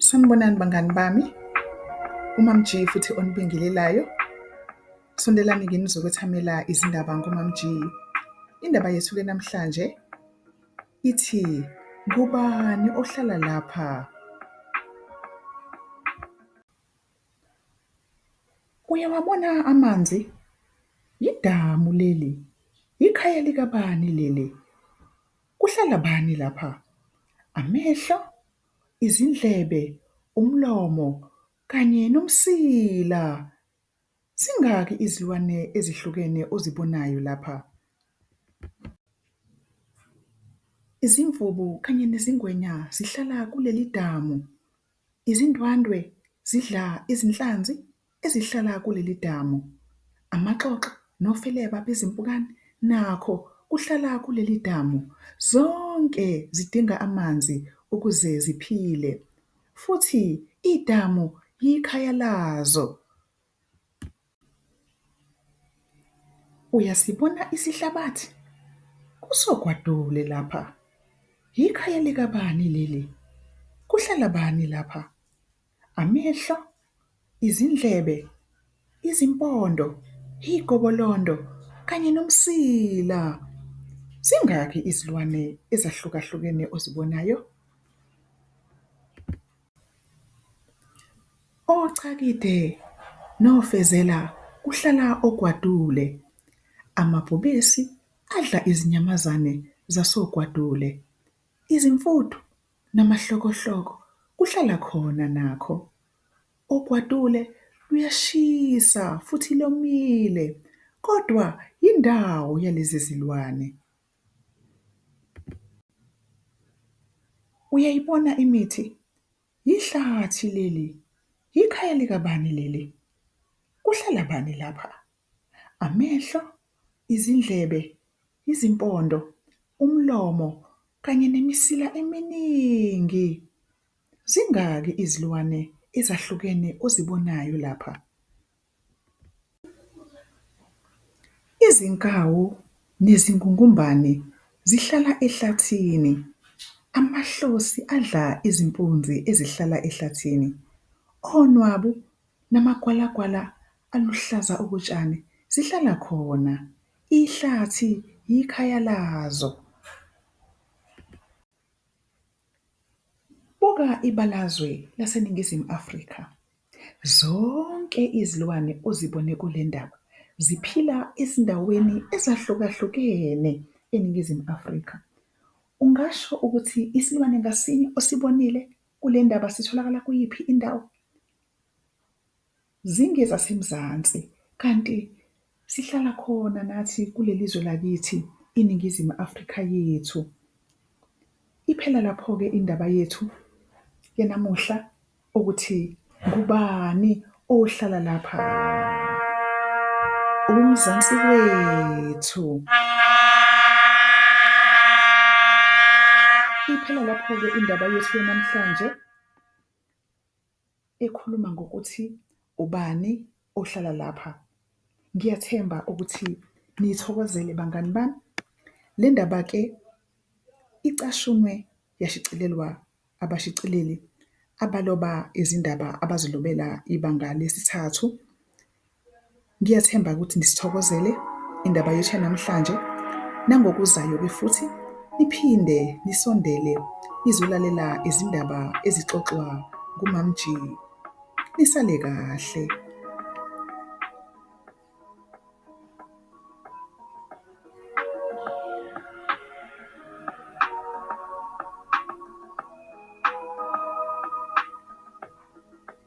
Sanibonani bangani bami, uMaMG futhi onibingelelayo. Sondelani kimi nizokwethamela izindaba ngoMaMG. Indaba yethu ke namhlanje ithi ngubani ohlala lapha? Uyawabona amanzi? Yidamu leli, yikhaya likabani leli? Kuhlala bani lapha? Amehlo, izindlebe, umlomo kanye nomsila. Zingaki izilwane ezihlukene ozibonayo lapha? Izimvubu kanye nezingwenya zihlala kuleli damu. Izindwandwe zidla izinhlanzi ezihlala kuleli damu. Amaxoxo nofeleba bezimpukane nakho kuhlala kuleli damu. Zonke zidinga amanzi ukuze ziphile futhi idamu yikhaya lazo. Uyasibona isihlabathi? Kusogwadule lapha. Yikhaya likabani leli? Kuhlala bani lapha? Amehlo, izindlebe, izimpondo, igobolondo kanye nomsila. Zingaki izilwane ezahlukahlukene ozibonayo? Ocakide nofezela kuhlala ogwadule. Amabhubesi adla izinyamazane zasogwadule. Izimfuthu namahlokohloko kuhlala khona nakho ogwadule luyashisa futhi lomile kodwa yindawo yalezi zilwane. Uyayibona imithi? Yihlathi leli, yikhaya likabani leli? Kuhlala bani lapha? amehlo, izindlebe, izimpondo, umlomo kanye nemisila eminingi. Zingaki izilwane ezahlukene ozibonayo lapha? Izinkawu nezingungumbane zihlala ehlathini. Amahlosi adla izimpunzi ezihlala ehlathini. Onwabu namagwalagwala Aluhlaza okotshani zihlala khona. Ihlathi yikhaya lazo. Buka ibalazwe laseNingizimu Afrika. Zonke izilwane ozibone kule ndaba ziphila ezindaweni ezahlukahlukene eNingizimu Afrika. Ungasho ukuthi isilwane ngasinye osibonile kule ndaba sitholakala kuyiphi indawo? ZingezaseMzansi kanti sihlala khona nathi kulelizwe lakithi iNingizimu Afrika yethu. Iphela laphoke indaba yethu yanamuhla ukuthi ngubani ohlala lapha. UMzansi wethu. Iphela laphoke indaba yethu yanamhlanje. ekhuluma ngokuthi ubani ohlala lapha. Ngiyathemba ukuthi niyithokozele bangani bami. Le ndaba-ke icashunwe yashicilelwa abashicileli abaloba izindaba abazilobela iBanga Lesithathu Ngiyathemba ukuthi nisithokozele indaba yethu yanamhlanje nangokuzayo-ke futhi niphinde nisondele nizolalela izindaba ezixoxwa nguMamG. Nisale kahle.